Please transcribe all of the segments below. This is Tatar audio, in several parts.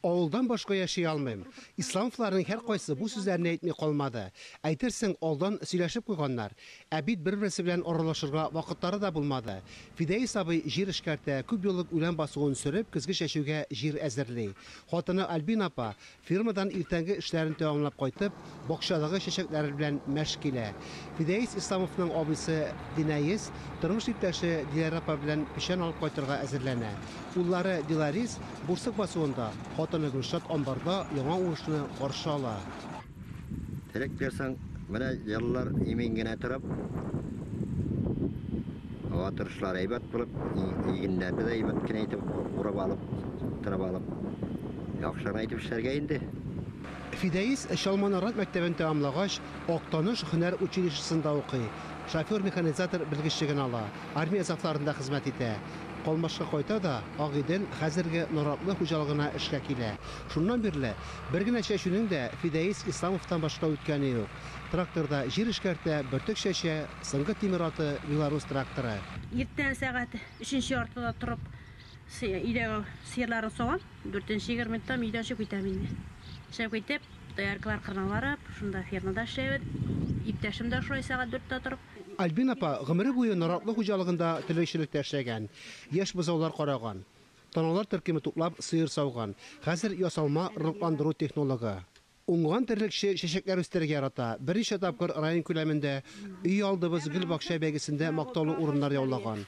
Авылдан башка яши алмыйм. Исламовларның һәркайсы бу сүзләрне әйтми калмады. Әйтерсең, алдан сөйләшеп куйганнар. Ә бит бер-берсе белән аралашырга вакытлары да булмады. Фидаис абый җир эшкәртә, күп еллык үлән басуын сөреп, көзге чәчүгә җир әзерли. Хатыны Альбина апа, фермадан иртәнге эшләрен тәмамлап кайтып, Бакчадагы чәчәкләр белән мәш килә. Фидәис Исламовның абыйсы Динаис тормыш иптәше Диләрә апа белән печән алып кайтырга әзерләнә. Уллары Диларис Бурсык басуында, хатыны Гөлшат амбарда яңа уңышны каршы ала. Теләк бирсәң, менә еллар имин генә торып, һава торышлары әйбәт булып, игеннәрне дә әйбәт кенә итеп урып алып, тырып алып, яхшы гына итеп эшләргә инде. Фидәис Чалма Нарат мәктәбен тәмамлагач, Актаныш һөнәр училищесында укый, шофер-механизатор белгечлеген ала, армия сафларында хезмәт итә. Калмашка кайта да Агыйдел хәзерге Наратлы хуҗалыгына эшкә килә. Шуннан бирле бер генә чәчүнең дә Фидәис Исламовтан башка үткәне юк. Тракторда җир эшкәртә, бөртек чәчә, соңгы тимер аты, Белорус тракторы. Иртән сәгать өченче яртыда торып, Өйдә сыерларын савам, дүртенче егер минуттан өйдән чыгып китәм инде. Чыгып китеп, дояркалар кырына барып, шунда фермада эшләбез. Иптәшем дә шулай сәгать дүрттә торып. Альбина апа гомере буе наратлы хуҗалыгында терлекчелектә эшләгән, яшь бозаулар караган, таналар төркеме туплап, сыер сауган, хәзер ясалма орлыкландыру технологы. Уңган терлекче чәчәкләр үстерергә ярата, берничә тапкыр район күләмендә Өйалдыбыз гөл-бакча бәйгесендә мактаулы урыннар яулаган.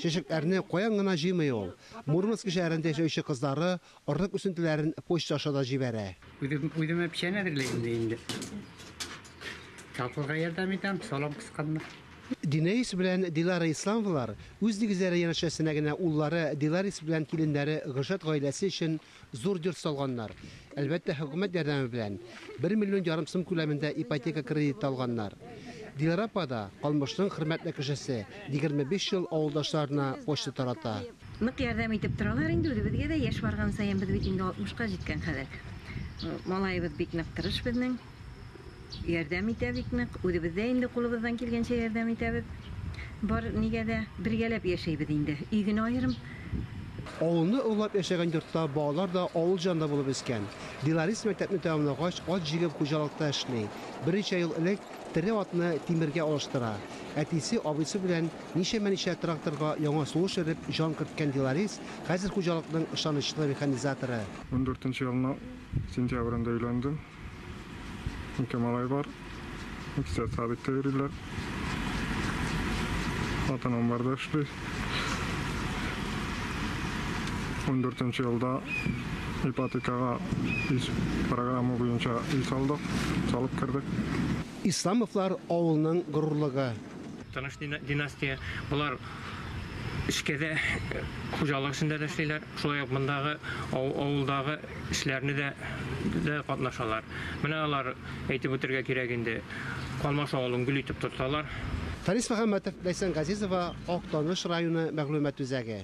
Чәчәкләрне каян гына җыймый ул! Мурманск шәһәрендә яшәүче кызлары орлык үсентеләрен почта аша да җибәрә. Үзем үземә печән әзерләйм дә инде. Татлыга ярдәм итәм, салам кысканда. Динәис белән Дилара Исламовалар үз нигезләре янәшәсенә генә уллары Диларис белән киленнәре Гөлшат гаиләсе өчен Зур йорт салганнар. Әлбәттә, хөкүмәт ярдәме белән. Бер миллион ярым сум күләмендә ипотека кредиты алганнар. Диләрә апа да, калмышның хөрмәтле кешесе, егерме биш ел авылдашларына почта тарата. Нык ярдәм итеп торалар инде, үзебезгә дә яшь барган саен, без бит инде алтмышка җиткән хәзер. Малаебыз бик нык тырыш безнең. ярдәм итә бик нык. Үзебез дә инде кулыбыздан килгәнчә ярдәм итәбез. Бар нигә дә бергәләп яшәйбез инде. Өй генә аерым. Авылны олылап яшәгән йортта балалар да авыл җан да булып үскән. Диларис мәктәпне тәмамлагач, ат җигеп хуҗалыкта эшли. Берничә ел элек тере атны тимергә алыштыра. Әтисе, абыйсы белән ничәмә-ничә тракторга яңа сулыш өреп җан керткән Диларис хәзер хуҗалыкның ышанычлы механизаторы. Ундүртенче елның сентябрендә өйләндем. Ике малай бар. Икесе садикта йөриләр. Хатын амбарда эшли. 14 елда ипотекага программа буенча үй салдык, салып кердек. Исламовлар авылның горурлыгы. Таныш династия. Болар эшкә дә, хуҗалык эшендә дә эшлиләр, шулай ук мондагы авылдагы эшләрне дә дә катнашалар. Менә алар, әйтеп үтәргә кирәк инде, Калмаш авылын гөл итеп тоталар. Фәнис Мөхәммәтов, Ләйсән Газизова, Актаныш районы мәгълүмат үзәге.